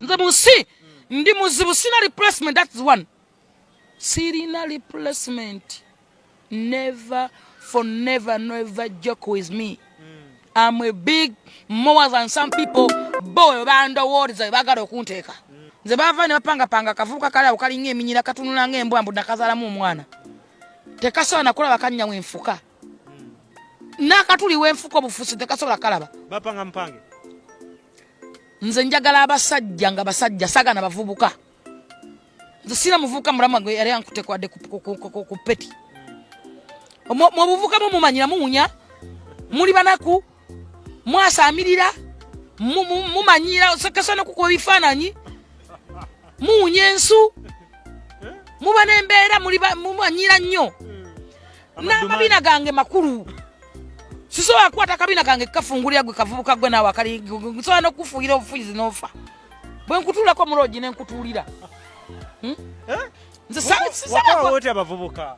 nze mu nsi ndi muzibu sina replacement that's one sirina replacement never for never never joke with me am a big more than some people bo bandowooza webagala okunteeka nze bava ne bapangapanga akavubuka kale awo kalinga eminyira katunula nga embwa mbu nakazaalamu omwana tekasobola kulaba kanya wenfuka nakatuli wenfuka obufusi tekasobola kalaba bapanga mpange nze njagala abasajja nga basajja saga na bavubuka nze sina muvubuka mulamu wange yali ankutekwade ku peti mubuvuka mumumanyira muwunya muli banaku mwasamirira mumanyiira osokesa nokukuba ebifaananyi muwunya ensu muba nembeera mumanyiira nnyo hmm. n'amabina gange makulu sisobola kukwata akabina kange kukafungulira gwe kavubuka gwe naawe akali nsobola nokukufuuyira obufuyizi n'ofa bwe nkutuulako muloogi ne nkutuulira hmm? eh? nzesisaabavubuka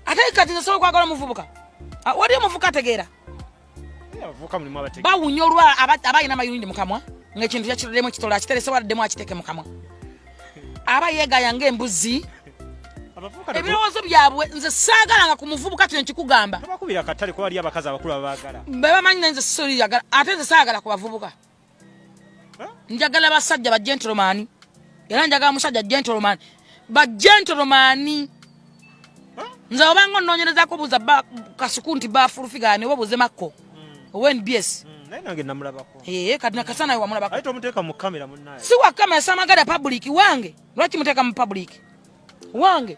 ate kati nze sobola okwagala omuvubuka ah, wali omuvuka ategeera bawunya olwa abalina amayunidi mukamwa ngaekintu yakitodemu ekitole akiterese waladdemu akiteke mukamwa aba yegaya ngaembuzi ebirowoozo byabwe nze saagalanga ku muvubuka kino nkikugamba bebamanyi naye nze siyagala ate nze saagala ku bavubuka njagala basajja ba gentleman era njagala musajja gentleman ba gentleman nze obanga ononyerezako buza kasuku nti bafulufigane oba buze makko hmm. ownbs hmm. naye nange namulabako ee eh, kati nakasa nawe wamulabako aye tomuteeka mu kamera munaye si wa kamera samagada public wange lwaki muteeka mu public wange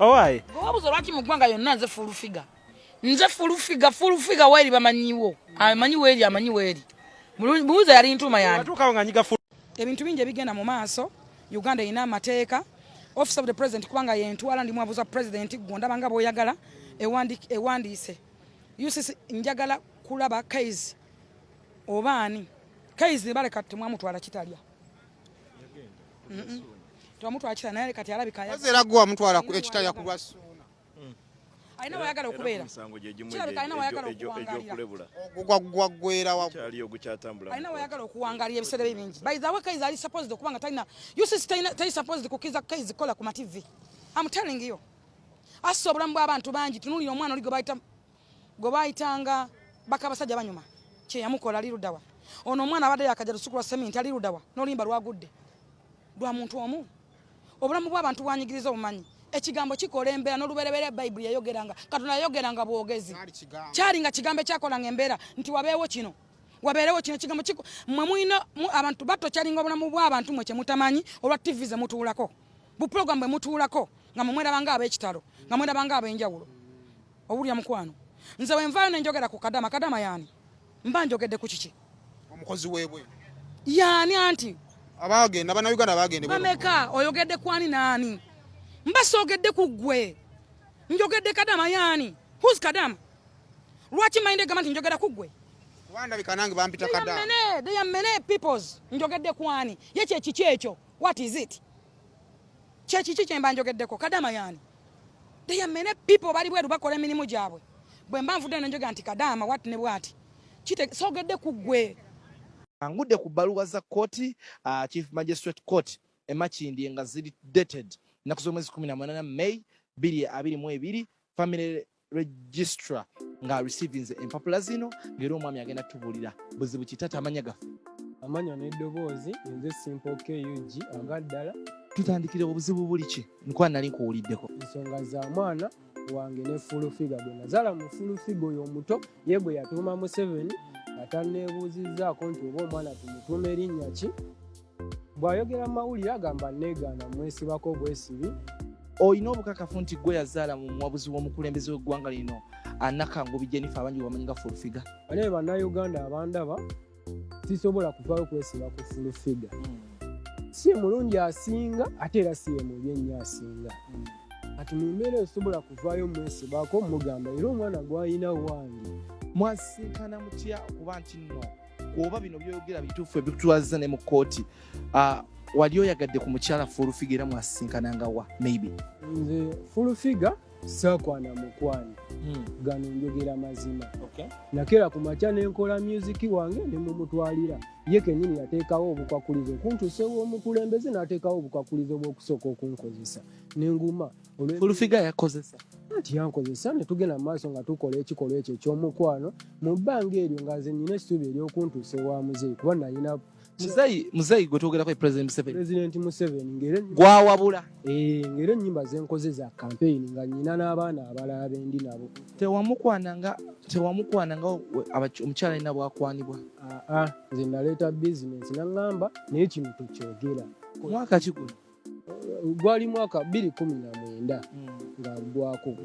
owaye owabuza lwaki mu ggwanga yonna nze full figure nze full figure full figure weeri bamanyiwo amanyi weeri amanyi weeri buuza yali ntuuma yange ebintu bingi ebigenda mu maaso uganda erina amateeka office of the president kubanga yentwala ndi mwabuza president gwe ndaba nga bwoyagala ewandiise ucc njagala kulaba kaizi oba ani kaizi baleka temwamutwala kitalya twamutwakisa naye kati alabika era gwe wamutwala ekitaya ku lwa suuna hmm. alina wayagala okubeera kirabika alina wayagala okuwangalira ogwaggwera alina wayagala okuwangalira ebiseera bye bingi by the way kaizi ali supposed okuba nga talina usis tali supposed kukiza kaizi kola ku mativi am telling you assa obulamu bw'abantu bangi tunulira omwana oli gwe bayita gwe bayitanga bakabasajja banyuma kyeyamukola ali ludawa ono omwana abadde yakaja lusukulwa seminti ali ludawa nolimba lwagudde lwa muntu omu obulamu bw'abantu bwanyigiriza obumanyi ekigambo kikola embeera nolubereberye bayibuli yayogeranga katonda yayogeranga bwogezi kyali nga kigambo ekyakolanga embeera nti wabeewo kino wabeerewo kino kigambo kiko mwe mulina abantu batokyalinga obulamu bw'abantu mwe kyemutamanyi olwa tivi ze mutuulako bupulogulamu bwe mutuulako nga mwe mwerabanga ab'ekitalo nga mwerabanga ab'enjawulo obulya mukwano nze wenvaayo nenjogera ku kadama kadama yaani mba njogedde ku kiki omukozi webwe yaani anti abagenda banauganda bagende bameka oyogedde kwani naani mba soogedde ku ggwe njogedde kadama yaani whos kadama lwaki mayinde gamba nti njogera ku ggwe mene peoples njogedde kwani ye kyekiki ekyo what is it kyekiki kyemba njogeddeko kadama yaani They are many people bali bweru bakola emirimu gyabwe. Bwe mba nvudde ne njoga nti kadaama wat ne bwati. Kite sogedde ku ggwe. Angudde ku bbaluwa za kkooti uh, Chief Magistrate Court e Makindye nga ziri dated ennaku z'omwezi kumi na munaana May bbiri abiri mu ebiri famire registra nga receivinze empapula zino ngaera omwami agenda tubuulira buzibu kitata amanya gaffe amanya n'eddoboozi nze simple kug aga ddala tutandikire obuzibu buli ki nkuba nali nkuwuliddeko ensonga za mwana wange ne fulufiga gwe nazala mu fulufiga oyo omuto ye gwe yatuuma museveni atanneebuuzizzaako nti oba omwana tumutuuma erinnya ki Bw'ayogera mu mawulire agamba nneegaana mwesibako bwesibi. Olina obukakafu nti gwe yazaala mu muwabuzi w'omukulembeze w'eggwanga lino anakangubi Jennifer abangi wamanyi nga fulfiga. Naye bannayuganda abandaba sisobola kuvaayo kwesiba ku fulfiga. Hmm. Si mulungi asinga ate era si ye mubi ennyo asinga. Hmm. Kati mu mbeera esobola kuvaayo mwesibako mugamba era omwana gw'alina wange. Mwasisinkana mutya okuba nti nno oba bino byoyogera bituufu ebitutwaziza ne mu kkooti ah, wali oyagadde ku mukyala fulufiga era mwasisinkananga wa maybe nze fulufiga sakwana mukwano hmm. gano njogera mazima nakera ku makya nenkola myuziki wange nemumutwalira ye kenyini yateekawo obukwakulizo kuntusewo omukulembeze nateekawo obukwakulizo bwokusooka okunkozesa nenguma fulufiga yakozesa anti yankozesa ne tugenda mu maaso nga tukola ekikolwa ekyo ekyomukwano mu bbanga eryo nga nze nyina essuubi eryokuntuusa ewa muzeeyi kuba nalina muzeeyi gwe twogerako president museveni president museveni ngere gwawabula eh, ngere ennyimba zenkoze za kampeyini nga nyina n'abaana abalala bendi nabo tewamukwana nga tewamukwana nga omukyala alina bwakwanibwa aa ah, ah, nze naleeta bizinesi naŋŋamba naye kino tekyogera mwaka kiguno gwali mwaka bbiri kumi na mwenda hmm. nga ggwako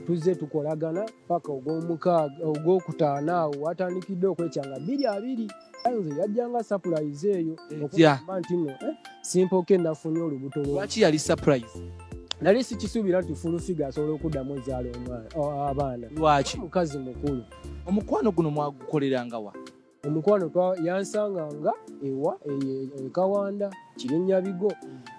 tuzze tukolagana paka ogwomukaaga ogwokutaano awo watandikidde okwekyanga bbiri abiri nze yajjanga sapulayizi eyo okugamba nti no eh, simpoke nafunye olubuto lwaki yali sapulayizi nali sikisuubira nti fulufiga asobola okuddamu ezaala abaana lwaki mukazi mukulu omukwano guno mwagukolerangawa omukwano yansanganga ewa ekawanda kirinnyabigo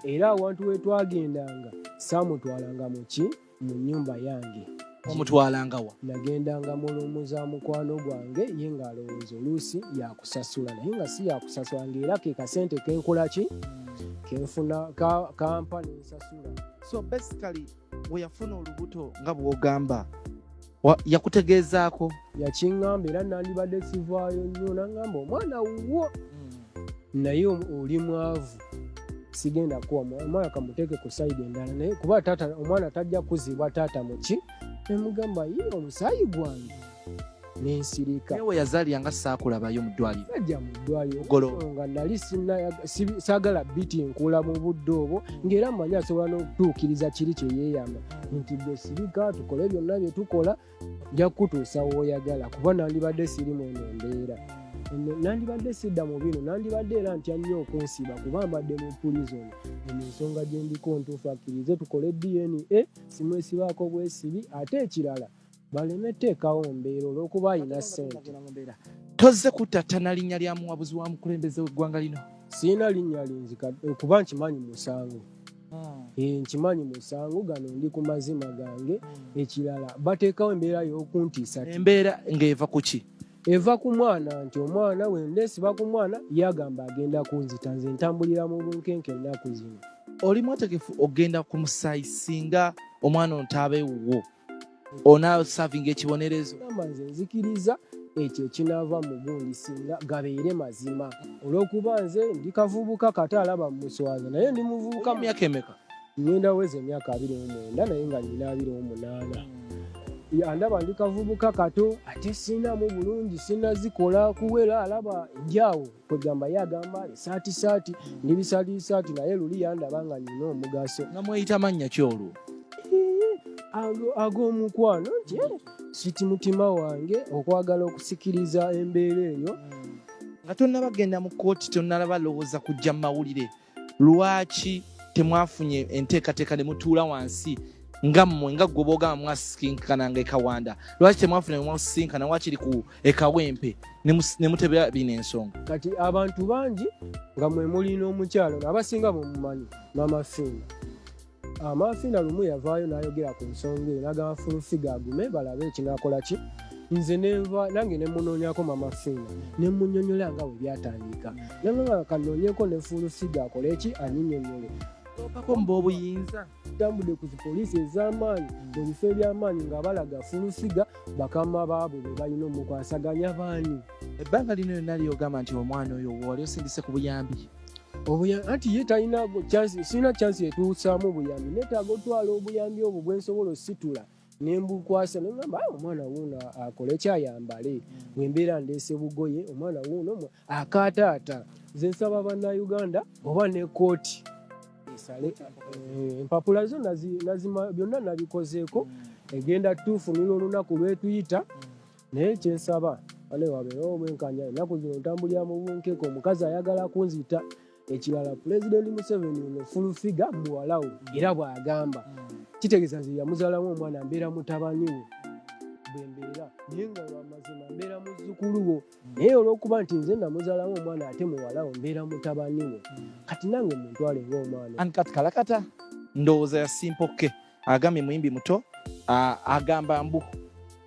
era awantu wetwagendanga saamutwalanga muki mu nnyumba yange omutwalangawa nagendanga mulumu za mukwano gwange ye ng'alowooza oluusi yakusasula naye nga si yakusasula ngaera ke kasente kenkolaki kenfuna kampa nensasula so basically we yafuna olubuto nga bw'ogamba yakutegeezaako yakiŋŋamba era nandibadde sivaayo nnyo naŋŋamba omwana wuwo hmm. naye oli mwavu sigenda kuwa omwana kamuteeke ku sayidi endala naye kuba omwana tajja kuzibwa taata muki nemugamba ye omusaayi gwange nensirika ewe yazalira nga saakulabayo mu ddwaliro najja mu ddwaliro nga nali saagala biti nkula mu budde obwo ng'era mumanyi asobola n'okutuukiriza kiri kye yeeyama nti gwe sirika tukole byonna bye tukola nja kukutuusa wooyagala kuba nandibadde siri mu eno embeera nandibadde sidda mu bino nandibadde era ntya nnyo okunsiba kuba mbadde mu pulizoni eno ensonga gyendiko ntuufu akkirize tukole dna simwesibaako bwesibi ate ekirala baleme teekawo mbeera olwokuba alina sente tozze kuttattana linnya lya muwabuzi wa mukulembeze w'eggwanga lino sirina linnya lingi okuba nkimanyi musango hmm. eh, nkimanyi musango gano ndi ku mazima gange hmm. ekirala bateekawo embeera y'okuntiisa embeera ng'eva ku ki eva ku mwana nti omwana wendesiba ku mwana yagamba agenda kunzita nze ntambulira mu bunkenke ennaku zino oli mwategefu ogenda ku musaayi singa omwana ontaabe wuwo onasavinga ekibonerezo gamba nze nzikiriza ekyo ekinaava mu gundi singa gabeere mazima olw'okuba nze ndi kavubuka kata alaba mumuswaza naye ndi muvubuka myaka emeka ngenda weza emyaka abiri mu mwenda naye nga nina abiri mu munaana andaba ndi kavubuka kato ate sinamu bulungi sinazikola kuwera alaba enjaawo kwegamba ye agamba esaati saati ndi bisaati bisaati naye luli yandaba nga nina omugaso nga mweyita mannya ki olwo ag'omukwano nti eh, siti mutima wange okwagala okusikiriza embeera eyo nga tonnabagenda mu kooti tonnalaba lowooza kujja mu mawulire lwaki temwafunye enteekateeka ne mutuula wansi nga mmwe nga gwe boogamba mwasisinkana nga ekawanda lwaki temwafuna mwasisinkana wakiri ku ekawempe ne mutebera bino ensonga kati abantu bangi nga mwe muli n'omukyalo abasinga bwemumanyi mama fiina Amaafiina lumu yavaayo n'ayogera ku nsonga eyo n'agamba Fulufiga agume balabe ekinaakola ki nze nenva nange nemunoonyako mama fiina nemunyonyola nga bwe byatandika nanganga kanoonyeko ne Fulufiga akole ki anyinyonyole okomba obuyinza tambudde ku zipoliisi ez'amaanyi mu bifo eby'amaanyi nga balaga Fulufiga bakama baabwe be balina omukwasaganya baani ebbanga lino lyonna lyogamba nti omwana oyo wali osindise ku buyambi anti ye talina sirina chansi etuusaamu obuyambi netaaga otwala obuyambi obwo bwensobola ositula nembukwasa nogamba ah, omwana wuuno akole kyayambale wembeera ndeese bugoye omwana wuuno akaataata nze nsaba bannauganda oba ne kooti esale eh, empapula zo byonna nabikozeeko egenda tuufunira olunaku lwetuyita naye kyensaba bane wabeerewo omwenkanya ennaku zino ntambulira mu bunkeka omukazi ayagala kunzita ekirala pulezidenti museveni ono fulufiga muwalawo era bw'agamba kitegeeza nze yamuzalamu omwana mbeera mutabani we bwe mbeera naye nga lwamazima mbeera muzzukulu wo naye olw'okuba nti nze namuzalamu omwana ate muwalawo mbeera mutabani we kati nange muntwale ngaomwana kati kalakata ndowooza yasimpokke agambye muyimbi muto agamba mbu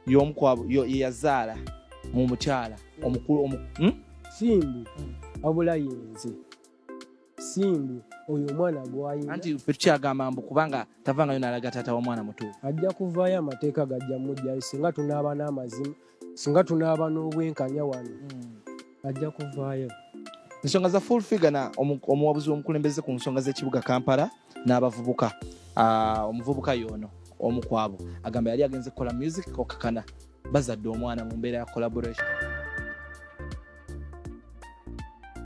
yomu kwabo yeyazaala mu mukyala omukulu omu hmm? simbu wabula yenze simbu oyo omwana gwayina anti fe tukyagamba mbu kubanga tavangayo nalaga taata womwana mutuufu ajja kuvaayo amateeka gajja mujjayo singa tunaaba n'amazima singa tunaaba n'obwenkanya wano hmm. ajja kuvaayo ensonga za full figure na omuwabuzi w'omukulembeze ku nsonga z'ekibuga kampala n'abavubuka ah, omuvubuka yoono omu kwabo agamba yali agenze kukola music okakana bazadde omwana mu mbeera ya collaboration